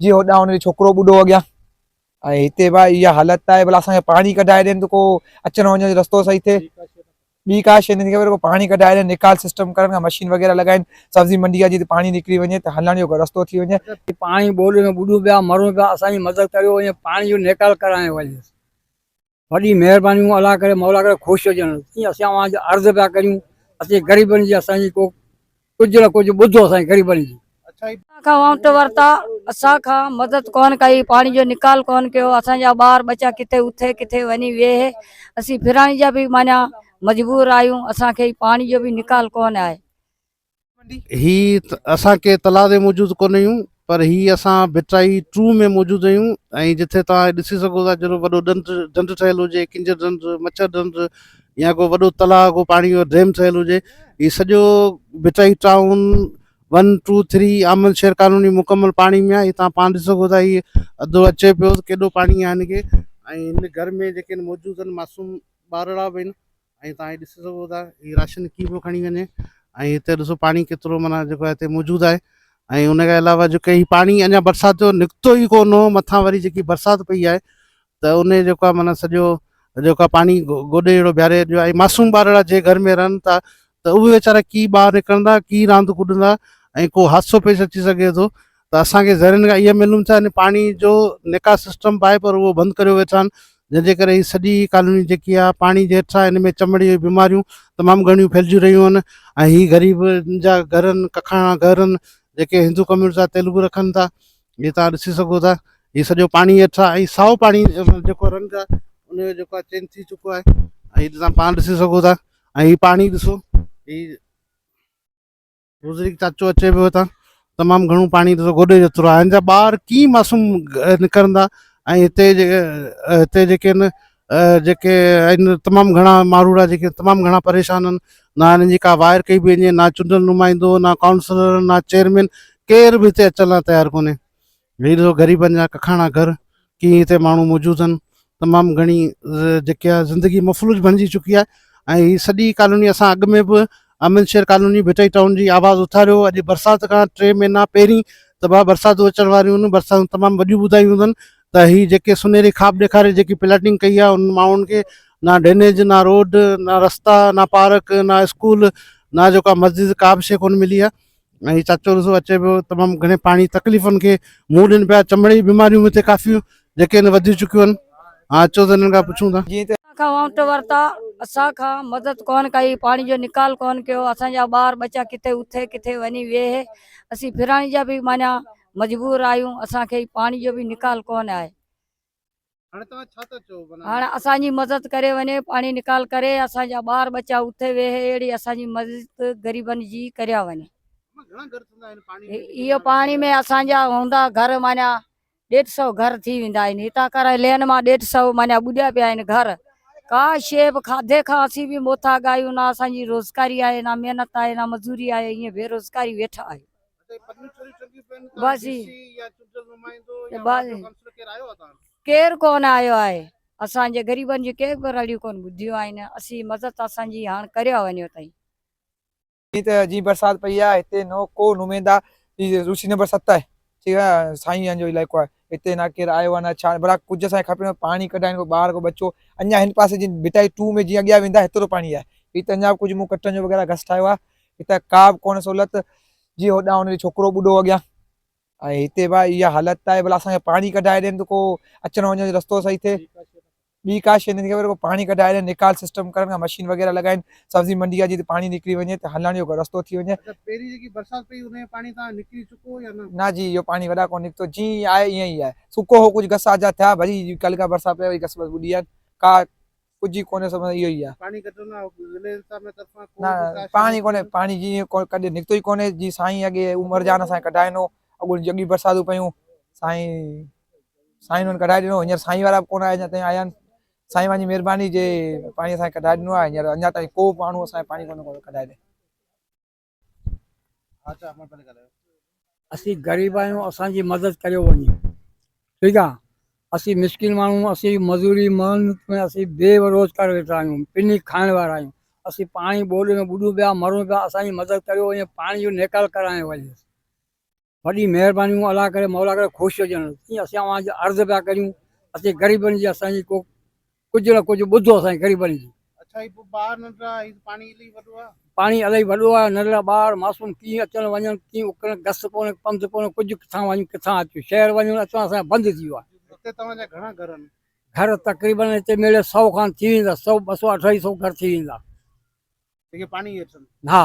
جي هوڏانهن هن جو ڇوڪرو ٻڍو اڳيان ۽ هتي به اها حالت آهي ڀلا اسانکي پاڻي ڪڍائي ڏين ته ڪو اچڻ وڃڻ جو رستو صحيح ٿئي ٻي کا شيء نٿي خبر ڪو پاڻي ڪڍائي ڏين نڪال سسٽم ڪرن ڪا مشين وغيره لڳائين سبزي منڊي جا جتي پاڻي نڪري وڃي ته هلڻ جو ڪو رستو ٿي وڃي پاڻي ٻوڏ ۾ ٻڏون پيا مرون پيا اسانجي مدد ڪريو ۽ پاڻي جو نيڪال ڪرايو وڃي وڏي مهربانيون الله ڪري مولا ڪري خوش هجن جي اسين اوهان جي عرض پيا ڪريون اسين غريبن جي اسان جي ڪو ڪجهه نه ڪجهه ٻڌو اسان جي غريبن جي اسان کان وانٽ ورتا اسان کان مدد ڪون ڪئي پاڻي جو نڪال ڪون ڪيو اسان جا ٻار ٻچا ڪٿي اٿي ڪٿي وڃي ويهي اسين ڦرڻ جا به معنيٰ مجبور آهيون اسان کي پاڻي جو به نڪال ڪون آهي هي اسان ڪي تلاء تي موجود ڪونه هيون پر هي اسان ڀٽائي ٽو ۾ موجود هيون ۽ جتي توهان ڏسي سگهو ٿا جهڙو وڏو ڏنڊ ڍنڍ ٺهيل هجي ڪنجر ڍنڍ مڇر ڍنڍ يا ڪو وڏو تلاء ڪو پاڻي جو ڊيم ٺهيل هجي هي سڄو Bhittai town one two three آمل شهر ڪالوني مڪمل پاڻي ۾ آهي هتان پاڻ ڏسي سگهو ٿا هي ادو اچي پيو ته ڪيڏو پاڻي آهي هن کي ۽ هن گهر ۾ جيڪي موجود آهن معصوم ٻارڙا به آهن ۽ تهان هي ڏسي سگهو ٿا هي راشن ڪي پيو کڻي وڃي ۽ هتي ڏسو پاڻي ڪيترو معنيٰ جيڪو آهي هتي موجود آهي ۽ ان کان علاوه جيڪو هي پاڻي اڃا برسات جو نڪتو ئي ڪون هو مٿان وري جيڪي برسات پئي آهي ته ان جيڪو آهي معنيٰ سڄو جيڪو آهي پاڻي گوڏي جهڙو بيهاري ڏيو ۽ معصوم ٻارڙا جي گهر ۾ رهن ٿا ته اهي ويچارا ڪي ٻاهر نڪرندا ڪي راند ڪڏندا ۽ ڪو حادثو پيش اچي سگهي ٿو ته اسان کي ذريعن کان اهي معلوم ٿيا يعني پاڻي جو نڪاس سسٽم به آهي پر اهو بند ڪريو ويو اٿن جنهن جي ڪري هي سڄي ڪالوني جيڪي آهي پاڻي جي هيٺان هن ۾ چمڙي جي بيماريون تمام گهڻيون ڦهلجي رهيون آهن ۽ هي غريب جا گهر آهن ڪکاڻا گهر آهن جيڪي هندو ڪميونٽي سان تعلق رکن ٿا جي تان ڏسي سگهو ٿا هي سڄو پاڻي هيٺان ۽ سائو پاڻي جيڪو رنگ آهي ان جو جيڪو آهي چينج ٿي چڪو آهي ۽ تان پاڻ ڏسي سگهو ٿا ۽ هي پاڻي ڏسو هي بزرگ چاچو اچي پيو هتان تمام گهڻو پاڻي ڏسو گوڏي جو ترا هن جا ٻار ڪي معصوم نڪرندا ۽ هتي هتي جيڪي آهن جيڪي آهن تمام گهڻا ماروڙا جيڪي تمام گهڻا پريشان آهن نہ هنن جي ڪا وائر ڪئي بي وڃي نہ چونڊل نمائندو نہ ڪائونسلر نہ چيئرمين ڪير به هتي اچڻ لاء تيار ڪونهي وير سو غريبن جا ڪکاڻا گهر ڪيئي هتي ماڻهو موجود آهن تمام گهڻي جيڪي آهي زندگي مفلوج بڻجي چڪي آهي ۽ هي سڄي ڪالوني اسان اڳ ۾ به امن شير ڪالوني ڀٽائي ٽائون جي آواز اٿاريو اڄ برسات کان ٽي مهينا پهرين ته بابا برساتون اچڻ واريون آهن برساتون تمام وڏيون ٻڌايون اٿن ته هي جيڪي سنهري خواب ڏيکاري جيڪي پلاٽنگ ڪئي آهي ان ماڻهن کي نہ ڊرينيج نہ روڊ نہ رستا نہ پارڪ نہ اسڪول نہ جيڪا مسجد ڪا به شيء ڪونه ملي آهي ۽ هي چاچو ڏسو اچي پيو تمام گهڻي پاڻي تڪليفن کي منهن ڏين پيا چمڙي جي بيماريون هتي ڪافي جيڪي هن وڌي چڪيون آهن ها اچو ته هنن کان پڇون ٿا جي ته اسان کان وانٽ ورتا اسان کان مدد ڪونه ڪئي پاڻي جو نڪال ڪونه ڪيو اسان جا ٻار ٻچا ڪٿي اٿي ڪٿي وڃي ويهي اسين ڦرڻ جا به معنيٰ مجبور آهيون اسان کي پاڻي جو به نڪال ڪونه آهي. هاڻ اسان جي مدد ڪري وڃي پاڻي نڪال ڪري اسان جا ٻار ٻچا اتي ويهي اهڙي اسان جي مدد غريبن جي ڪريا وڃي اهو پاڻي ۾ اسان جا هوندا گهر مانيا ڏيڍ سو گهر ٿي ويندا آهن هتان ڪرائي لين مان ڏيڍ سو مانيا ٻڏيا پيا آهن گهر ڪا شي به کاڌي کان اسين به موتاڳ آهيون نه اسان جي روزگاري آهي نه محنت آهي نه مزوري آهي ائين بي روزگاري ويٺا آهيون بس جي بس ڪير ڪون آيو آهي اسان جي غريبن جي ڪي به رڙيون ڪون ٻڌيون آهن اسي مدد اسان جي هاڻ ڪريو وڃو تائين. جي ته جي برسات پئي آهي هتي نو ڪو نميندا جي روسي نمبر ست آهي ٺيڪ آهي سائين جن جو علائقو آهي هتي نه ڪير آيو آهي نه ڇا بلا ڪجهه اسان کي کپي پاڻي ڪڍائين ڪو ٻار ڪو ٻچو اڃا هن پاسي جي ڀٽائي ٽو ۾ جي اڳيا ويندا هتي تو پاڻي آهي هي ته اڃا ڪجهه مون ڪٽن جو وغيره گس ٺاهيو آهي هتي ڪا به ڪونهي سهولت جي هوڏانهن هن جو ڇوڪرو ٻڏو اڳيان ۽ هتي به اها حالت آهي ڀلا اسان کي پاڻي ڪڍائي ڏين ته ڪو اچڻ وڃڻ جو رستو صحيح ٿئي ٻي ڪا شيء نٿي خبر پاڻي ڪڍائي ڏين نيڪال سسٽم ڪرن ڪا مشين وغيره لڳائين سبزي منڊي جي پاڻي نڪري وڃي ته هلڻ جو رستو ٿي وڃي پهرين جيڪي برسات پئي ان جي پاڻي تان نڪري چڪو يا نه نه جي اهو پاڻي وڏا ڪو نڪتو جي آهي ائين ئي آهي سڪو هو ڪجهه گس آجا ٿيا وري ڪل کان برسات پئي وئي گس وس ٻڏي ويا ڪا ڪجهه ئي ڪونهي سڀ اهو ئي آ. پاڻي ڪڍڻ لاء ضلعي انتظاميه طرفان ڪو به ڪاشي نه ٿي. پاڻي ڪونهي پاڻي جيئن ڪڏهن نڪتو ئي ڪونهي جيئن سائين اڳي عمر جان اسان کي ڪڍائي ڏنو اڳوڻي جڳي برساتون پيون سائين سائين انهن ڪڍائي ڏنو هينئر سائين وارا به ڪونه آيا اڃا تائين آيا آهن سائين وانهن جي مهرباني جي پاڻي اسان کي ڪڍائي ڏنو آهي هينئر اڃا تائين ڪو به ماڻهو اسان کي پاڻي ڪونه ڪڍائي ڏي. اسين غريب آهيون اسان جي مدد ڪريو وڃي ٺيڪ آ اسين مسڪين ماڻهو اسين مزوري محنت ۾ اسين بي روزگار ويٺا آهيون پني کائڻ وارا آهيون اسين پاڻي ٻوڏ ۾ ٻڏون پيا مرون پيا اسان جي مدد ڪريو وڃي پاڻي جو نيڪال ڪرايو وڃي وڏي مهربانيون الله ڪري مولا ڪري خوش هجن جي اسين اوهان جي عرض پيا ڪريون اسين غريبن جي اسان جي ڪو ڪجهه نه ڪجهه ٻڌو اسان جي غريبن جي اچھا هي ٻار ننڍڙا هي پاڻي الائي وڏو آ پاڻي الائي وڏو آ ننڍڙا ٻار معصوم ڪي اچن وڃن ڪي اڪرن گس ڪونه پنڌ ڪونه ڪجهه ڪٿان وڃون ڪٿان اچون شهر وڃون اچون اسان جا بند ٿي ويو آ هتي توهان جا گھڻا گھر آهن گھر تقريبن هتي ميڙي 100 کان ٿي ويندا 100 200 250 گھر ٿي ويندا جيڪي پاڻي هيٺ آهن ها